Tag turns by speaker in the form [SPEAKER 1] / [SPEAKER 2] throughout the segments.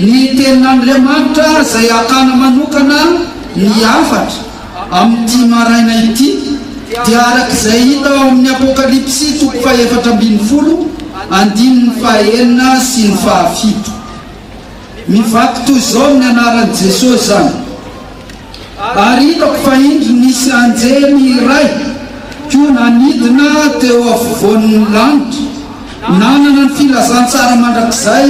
[SPEAKER 1] Ny Tenin'Andriamanitra izay hakana manokana ny hafatra amin'ity maraina ity dia araka izay hita ao amin'ny Apokalypsy toko fahefatra ambin'ny folo andininy fahenina sy ny fahafito. Mivaky toy izao ny anaran'i Jesosy izany. ary hitako fa indro nisy anjely iray koa nanidina teo afovoan'ny lanitra, nanana ny filazantsara mandrakizay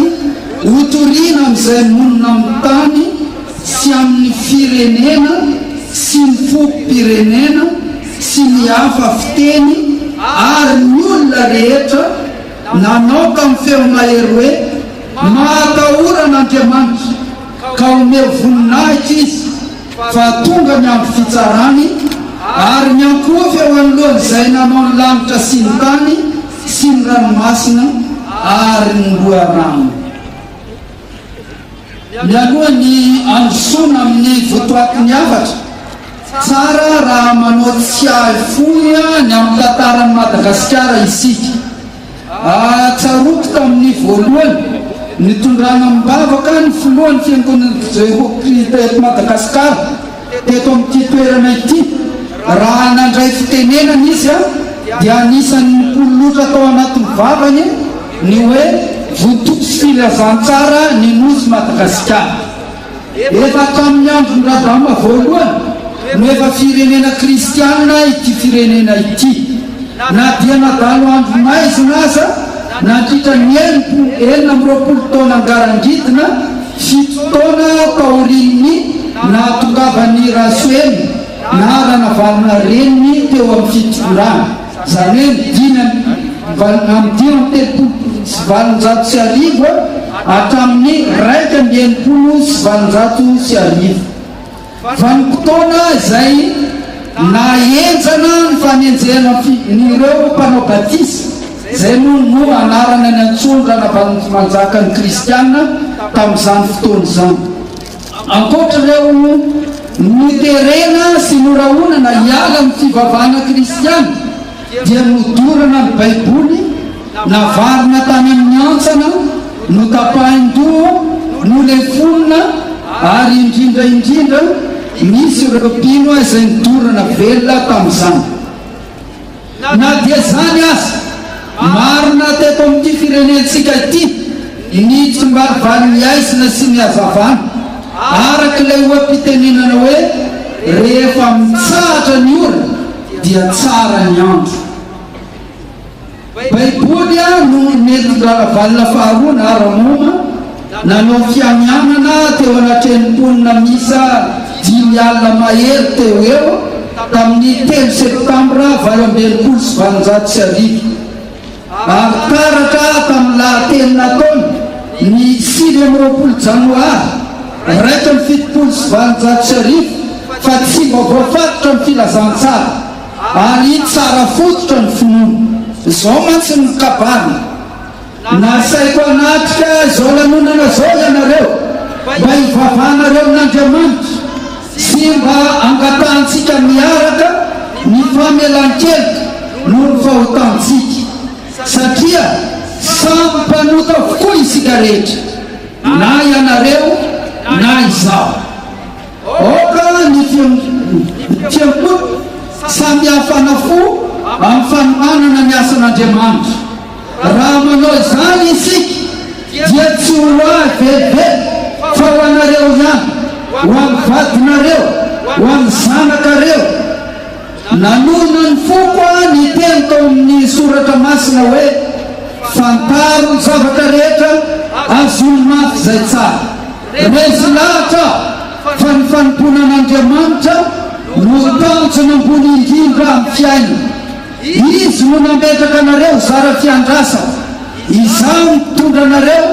[SPEAKER 1] hotorina amin'izay monina amin'ny tany sy amin'ny firenena sy ny fokom-pirenena sy ny hafa fiteny ary ny olona rehetra nanao tamin'ny feo mahery hoe, Mahatahora an'Andriamanitra! ka omeo voninahitra izy fa tonga ny andro fitsarany ary miankohoka eo anoloan'izay nanao ny lanitra sy ny tany sy ny ranomasina ary ny loharano. Mialoha ny handrosoana amin'ny votoatin'ny hafatra, tsara raha manao tsiahy fohy ny amin'ny tantaran'i Madagasikara isika. Tsaroako tamin'ny voalohany nitondrana am-bavaka ny filohan'ny Fiangonan'ny Jehovah Kristy eto Madagasikara, teto amin'ity toerana ity. Raha nandray fitenenana izy, dia anisan'ny nipololotra tao anatin'ny vavany ny hoe, Vontoa sy Filazantsara ny Nosy Madagasikara. Efa tamin'ny andron'i Rabama voalohany no efa firenena kristiana ity firenena ity. Na dia nadalo andro maizina aza nandritra ny enim-po enina amby roapolo taona ngarangidina, fito taona taorian'ny nahatongavan'i Rasoelina na Ranavalona reniny teo amin'ny fitondrana. Izany hoe ny dimy amby dimampolo sy valonjato sy arivo hatramin'ny iraika amby enimpolo sy valonjato sy arivo. Vanim-potoana izay naha-henjana ny fanenjehana ireo mpanao batisa, izay moa no anarana niantsoan-dRanavalonjimanjaka ny kristiana tamin'izany fotoana izany. Ankoatra ireo noterena sy norahonana hiala amin'ny fivavahana kristiana dia nodorana ny Baiboly, navarina tany amin'ny hantsana, notapahin-doha, nolefonina ary indrindra indrindra nisy ireo mpino izay nidorana velona tamin'izany. Na dia izany aza, marina teto amin'ity firenentsika ity ny tsimbarivarin'ny haizina sy ny hazavana. Araka ilay oha-pitenenana hoe, Rehefa mitsahatra ny ora dia tsara ny andro. Baiboly no nentin-dRalavalona faharoa na Ramoma. nanao fianianana teo anatrehan'ny mponina miisa dimy alina mahery teo ho eo tamin'ny telo septambra valo amby enimpolo sy valonjato sy arivo ary taratra tamin'ny lahateny nataony ny sivy amby roapolo janoary iraika amby fitopolo sy valonjato sy arivo fa tsy mba voafatotra ny filazantsara ary tsara fototra ny finoana. Izao mantsy ny kabary. Nasaiko hanatrika izao lanonana izao ianareo mba hivavahanareo amin'Andriamanitra sy mba hangatahantsika miaraka ny famelan-keloka noho ny fahotantsika, satria samy mpanota avokoa isika rehetra, na ianareo na izaho. Aoka ny fihetseham-poko samy hafana fo amin'ny fanohanana ny asan'Andriamanitra. Raha manao izany isika, dia tsy ho ahy velively, fa ho anareo ihany, ho an'ny vadinareo, ho an'ny zanakareo. Nanona ny foko aho ny teny tao amin'ny Soratra Masina hoe, Fantaro ny zavatra rehetra, azony mafy izay tsara. Resy lahatra aho fa ny fanompoana an'Andriamanitra no tanjona ambony indrindra amin'ny fiainana. Izy no nametraka anareo ho zara fiandrasana. Izaho mitondra anareo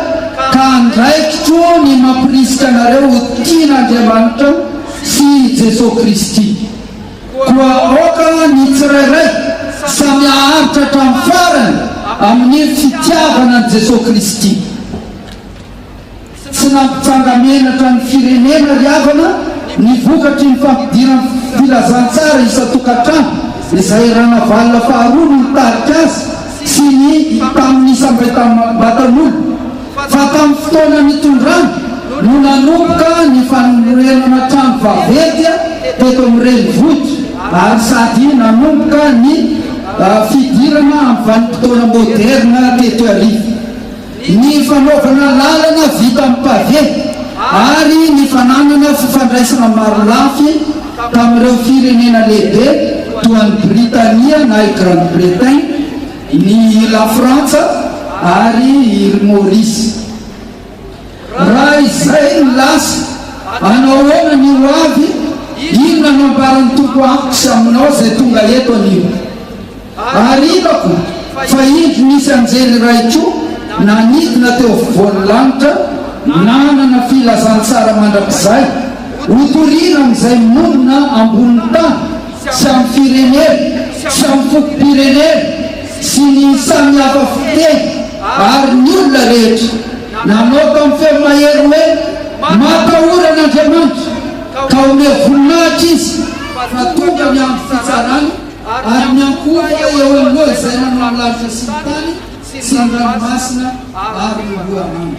[SPEAKER 1] ka andraikitro ny mampirisika anareo ho tia an'Andriamanitra sy i Jesoa Kristy. Koa aoka ny tsirairay samy haharitra hatramin'ny farany amin'ny fitiavana an'i Jesoa Kristy. Tsy nampitranga menatra ny firenena ry havana ny vokatry ny fampidiran'ny filazantsara isan-tokantrano izay Ranavalona faharoa no nitarika azy sy ny tamin'ny isam-baitam-batan'olona fa tamin'ny fotoana nitondrany no nanomboka ny fanorenana trano vaventy teto amin'ny renivohitra ary sady nanomboka ny fidirana amin'ny vanim-potoana moderina teto Iarivo. ny fanaovana lalana vita amin'ny pavé ary ny fananana fifandraisana marolafy tamin'ireo firenena lehibe toa an'i Britania na i Grande-Bretagne, ny i Lafrantsa ary Îles Maurice. Raha izay no lasa, hanao ahoana ny hoavy? Inona no ambaran'ny Tompo amiko sy aminao izay tonga eto anio? Ary hitako fa indro nisy anjely iray koa nanidina teo afovoan'ny lanitra, nanana filazantsara mandrakizay hotorina amin'izay monina ambonin'ny tany sy amin'ny firenena sy amin'ny fokom-pirenena sy ny samy hafa fiteny ary ny olona rehetra. Nanao tamin'ny feo mahery hoe, Matahora an'Andriamanitra, ka omeo voninahitra Izy, fa tonga ny andro fitsarany. ary ny ahy koa eo aloha izay nanao ny lanitra sy ny tany sy ny ranomasina ary ny loharanony.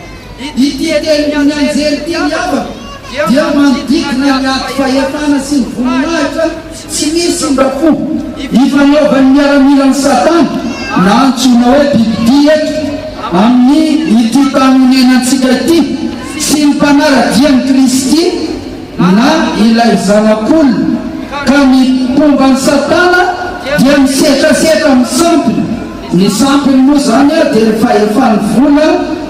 [SPEAKER 1] Ity tenin'ny anjely ity ry havako dia manodidina ny ady fahefana sy ny voninahitra tsy misy mba fo ifanaovan'ny miaramilan'i Satana na antsoina hoe bibidia eto amin'ny ity tany onenantsika ity sy ny mpanara-dia an'i Kristy na ilay Zanak'olona, ka ny mpomban'i Satana dia misetrasetra amin'ny sampiny, ny sampiny moa izany dia ny fahefan'ny vola,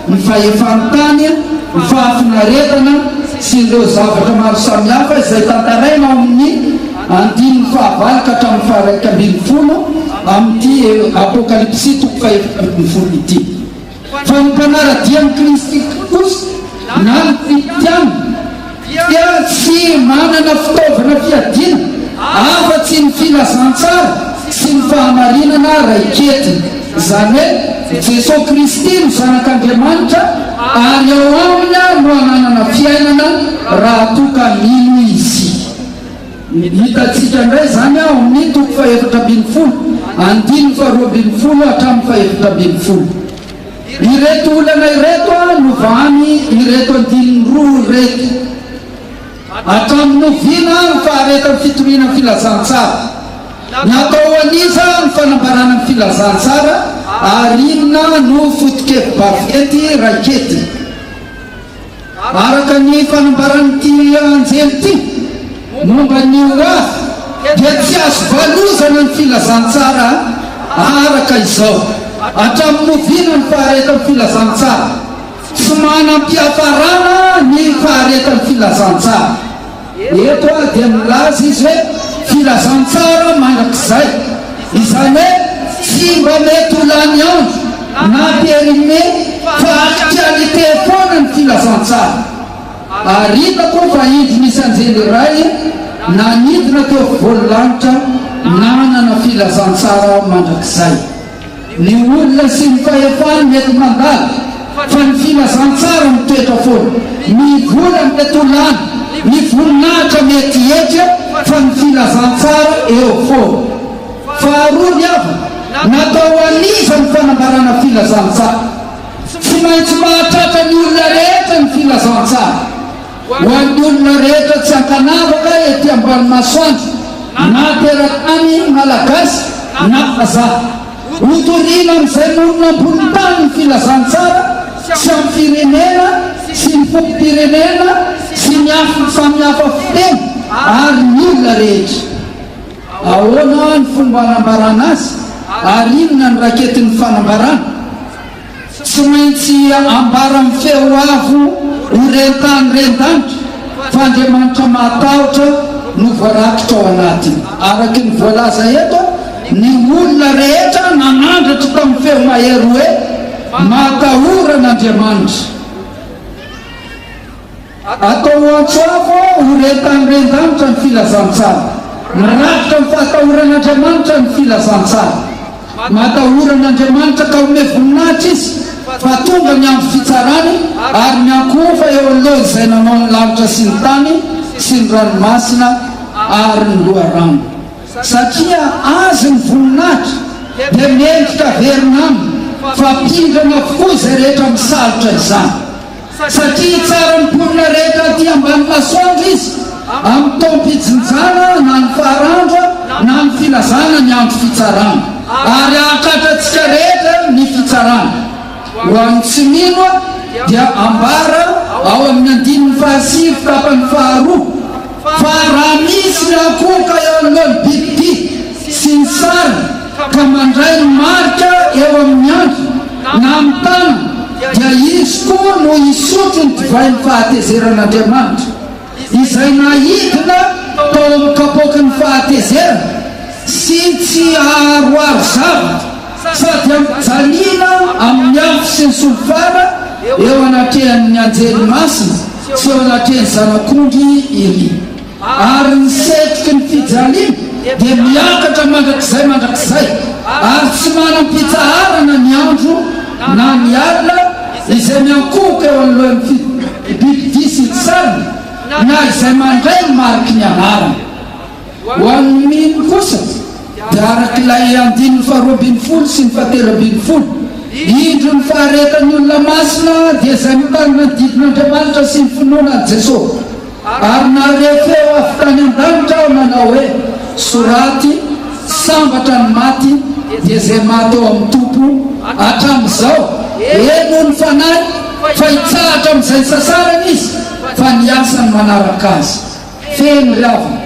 [SPEAKER 1] ny fahefan'ny tany, ny fahafinaretana sy ireo zavatra maro samihafa izay tantaraina ao amin'ny andininy fahavalo ka hatramin'ny faharaika ambin'ny folo amin'ity Apokalypsy toko fahefatra ambin'ny folo ity. fa ny mpanara-dia an'i Kristy kosa na ny Kristiana dia tsy manana fitaovana fiadiana afa-tsy ny filazantsara sy ny fahamarinana raiketiny, izany hoe i Jesoa Kristy no Zanak'Andriamanitra ary ao Aminy no ananana fiainana raha toa ka mino isika. Ny hitantsika indray izany ao amin' ny toko fahefatra ambin'ny folo, andininy faharoa ambin'ny folo hatramin'ny fahefatra ambin'ny folo. Ireto olana ireto no vahan' ireto andininy roa ireto, Hatramin'ny oviana ny faharetan' ny fitoriana ny filazantsara? Natao ho an' iza ny fanambarana ny filazantsara? Ary inona no foto-kevi-baventy raiketiny? Araka ny fanambaran'ity anjely ity momba ny ho avy dia tsy azo valozana ny filazantsara araka izao hatramin'ny oviana ny faharetan'ny filazantsara? Tsy manam-piafarana ny faharetan'ny filazantsara. Eto ary dia milaza izy hoe filazantsara mandrakizay, izany hoe tsy mba mety ho lany andro na périmé fa actualité foana ny filazantsara. Ary hitako fa indro nisy anjely iray nanidina teo afovoan'ny lanitra nanana filazantsara mandrakizay. Ny olona sy ny fahefany mety mandala fa ny filazantsara mitoetra foana. Mivola amin'ny atolan'ny ny voninahitra mety hihetra fa ny filazantsara eo foana. Faharoa ny havana. Natao ho an'iza ny fanambarana filazantsara? Tsy maintsy mahatratra ny olona rehetra ny filazantsara. Ho an'ny olona rehetra tsy ankanavaka ety ambany masoandro, na teratany Malagasy na vazaha. Ho toriana amin'izay monina ambonin'ny tany ny filazantsara tsy amin'ny firenena sy ny fokom-pirenena sy ny afo samihafa fiteny ary ny olona rehetra. Ahoana ny fomba anambarana azy ary inona no raketin'ny fanambarana? Tsy maintsy ambara amin'ny feo avo ho ren-tany ren-danitra fa Andriamanitra mahatahotra no voarakitra ao anatiny. Araka ny voalaza eto, ny olona rehetra nanandratra tamin'ny feo mahery hoe, Matahora an'Andriamanitra. Atao ho antso avo ho rentan'ny ren-danitra ny filazantsara. Mirafitra amin'ny fahatahoran'Andriamanitra ny filazantsara. Matahora an'Andriamanitra ka omey voninahitra izy fa tonga ny andro fitsarany ary miankohoka eo anoloan'izay nanao ny lanitra sy ny tany sy ny ranomasina ary ny loharano. Satria azy ny voninahitra dia mendrika averina aminy fa mpindrana avokoa izay rehetra misalotra izany. Fa satria hitsara ny mponina rehetra aty ambany masoandro izy amin'ny taom-pijinjana na ny farandro na ny filazana ny andro fitsarana, ary hahatratra antsika rehetra ny fitsarana. Ho an'ny tsy mino dia ambara ao amin'ny andininy fahasivy tapany faharoa. Fa raha misy rakoka eo anoloan'ny bibidia sy ny sariny ka mandray ny marika eo amin'ny andriny na amin'ny tanany, dia izy koa no hisotro ny divain'ny fahatezeran'Andriamanitra, izay naidina tao amin'ny kapoaky ny fahatezerana, sy tsy haharoaro zavatra Sady ampijanina amin'ny afo sy ny solifara eo anatrehan'ny anjely masina sy eo anatrehan'ny Zanak'ondry iry. Ary ny setroky ny fijaliana dia miakatra mandrakizay mandrakizay, ary tsy manam-pitsaharana ny andro na ny alina izay miankohoka eo anoloan'ny fitopom-pibidy vy sy ny sariny, na izay mandray ny mariky ny anarany. Ho an'ny mino kosa dia arak'ilay andininy faharoa ambin'ny folo sy ny fahatelo ambin'ny folo, Indro ny faharetan'ny olona masina dia izay mitarina ny didin'Andriamanitra sy ny finoana an'i Jesosy. Ary nahare feo avy tany an-danitra aho nanao hoe, Soraty, Sambatra ny maty, dia izay maty ao amin'ny Tompo hatramin'izao, henoy ny fanahy, fa hitsahatra amin'izay sasarany izy, fa ny asany manaraka azy. Feno ry havana,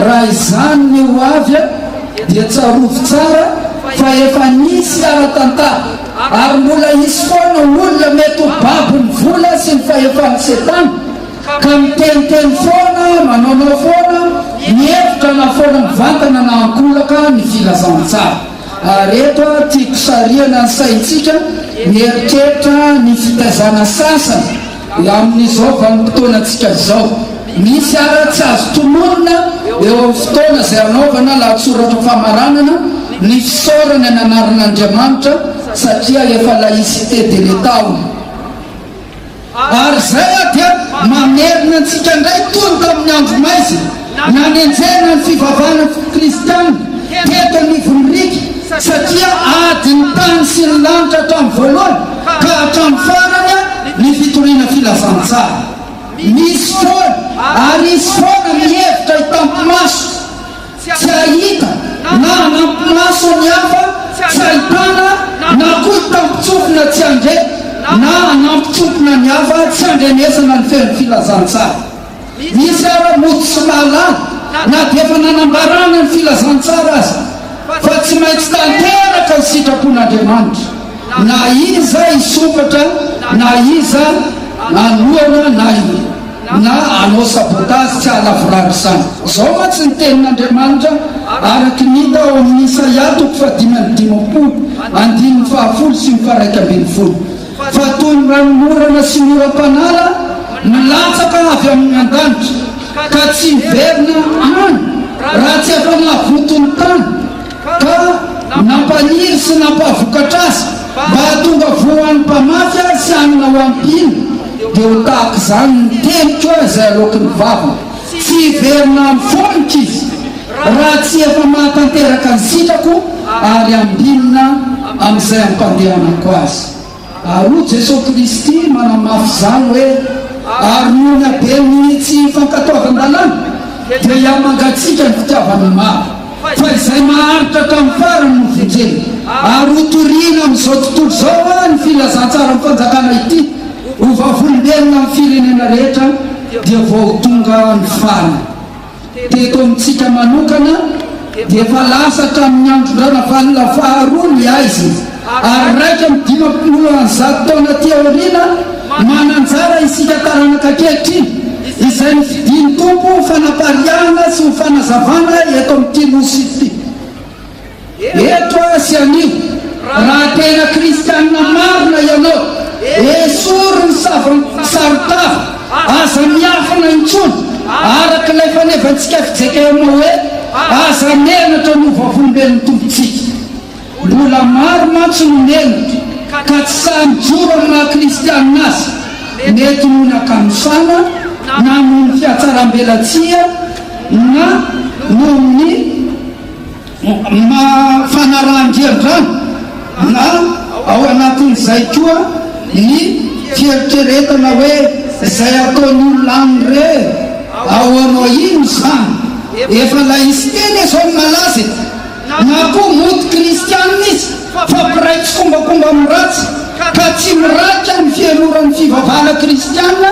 [SPEAKER 1] raha izany ny ho avy dia tsarovy tsara fa efa nisy ara-tantara ary mbola hisy foana olona mety ho babon'ny vola sy ny fahefan'i setana ka miteniteny foana, manaonao foana, mihevitra na foana mivantana na ankolaka ny filazantsara. Ary eto aho tiako sarihana ny saintsika mieritreritra ny fitaizana sasany Amin'izao vanim-potoanantsika izao, misy àry tsy azo tolorana eo amin'ny fotoana izay hanaovana lahatsoratra famaranana ny fisaorana ny anaran'Andriamanitra satria efa laïcité de l'Etat ao. Ary izay dia mamerina antsika indray toy ny tamin'ny andro maizina. Nanenjehana ny fivavahana kristiana teto anivon'ny riaka satria ady ny tany sy ny lanitra hatramin'ny voalohany ka hatramin'ny farany ny fitoriana filazantsara. Misy foana ary hisy foana ny hevitra hitam-pimaso tsy hahita na hanampi-maso ny hafa tsy hahitana na koa hitam-pitsofina tsy handre na hanampitsofina ny hafa tsy handrenesana ny fenon'ny filazantsara. Misy ara mody tsy mahalala na dia efa nanambarana ny filazantsara aza fa tsy maintsy tanteraka ny sitrapon'Andriamanitra na iza hisompatra na iza hanohana na na hanao sabotazy tsy hahalavorary izany. Izao mantsy ny tenin'Andriamanitra araka ny hita ao amin'ny Isaia toko fahadimy amby dimampolo andininy fahafolo sy ny faharaika ambin'ny folo. Fa toy ny ranonorana sy ny oram-panala milatsaka avy amin' ny an-danitra, ka tsy hiverina any raha tsy afa-navoton' ny tany, ka nampaniry sy nampavokatra azy mba hahatonga voa ho an'ny mpamafy azy sy hanina ho am-pihiny, dia ho tahaka izany ny teniko izay aloaky ny vavany. Tsy hiverina amin'ny foniko izy raha tsy efa mahatanteraka ny sitrako ary ambinina amin'izay ampandehanako azy. Ary hoy Jesoa Kristy manamafy izany hoe, Ary noho ny haben'ny tsy fankatoavan-dalàna dia hihamangatsiaka ny fitiavana maro. Fa izay maharitra tamin'ny farany no vonjena. Ary hotorina amin'izao tontolo izao ary ny filazantsaran'ny Fanjakana ity ho vavolombelona amin'ny firenena rehetra dia vao ho tonga ny farany. Teto amintsika manokana dia efa lasa hatramin'ny andron-dRanavalona faharoa ny haizina. ary iraika amby dimampolo ary zato taona aty aoriana, mananjara isika taranaka ankehitriny, izay nofidin'ny Tompo ho fanapariahana sy ho fanazavana eto amin'ity Nosy ity. Eto aho sy anio, raha tena kristianina marina ianao, esory ny saron-tava, aza miafina intsony, araka ilay fanevantsika fijkm hoe, Aza menatra ny ho vavolombelon'ny Tompontsika. Mbola maro mantsy no nendry ka tsy sahy mijoro amin'ny maha kristianina azy, mety noho ny ankanontana na noho ny fiatsarambelatsihy na noho ny maha fanarahan-driandrano na ao anatin'izay koa ny fieritreretana hoe izay ataon'ny olona aminy re ahoana ino izany? Efa laisiteny izao ny malaza e! Na koa mody kristiana izy fa mpiray tsikombakomba amin'ny ratsy ka tsy mirahika ny fiheloran'ny fivavahana kristiana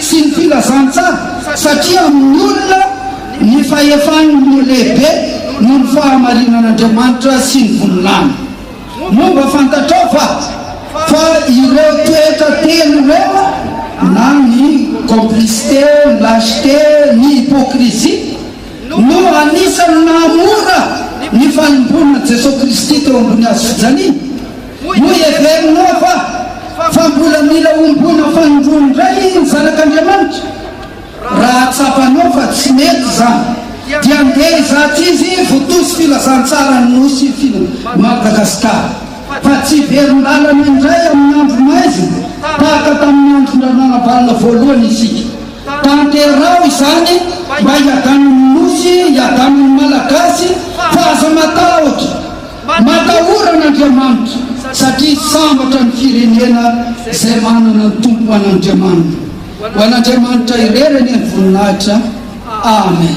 [SPEAKER 1] sy ny filazantsara satria amin'ny olona ny fahefany no lehibe noho ny fahamarinan'Andriamanitra sy ny vonilany. Momba fantatrao va fa ireo toetra telo ireo na ny complicité, ny lâcheté, ny hypocrisie, no anisan'ny nahamora ny fanompoanan'i Jesoa Kristy teo ambony Hazo fijaliana. Hoy heverinao va fa mbola mila homboana fanindroany indray ny Zanak'Andriamanitra? Raha tsapanao fa tsy mety izany, dia andeha hizaha izy votozy Filazantsaran'ny Nosy i Madagasikara fa tsy hiverin-dalana indray amin'ny andro maizina tahaka tamin'ny andron-dRanalabalona voalohany isika. Tanteraho izany mba hiadanin'ny Nosy, hiadanin'ny Malagasy fa aza matahotra, matahora an'Andriamanitra satria sambatra ny firenena izay manana ny Tompo ho an'Andriamanina. Ho an'Andriamanitra irery anie ny voninahitra. Amen.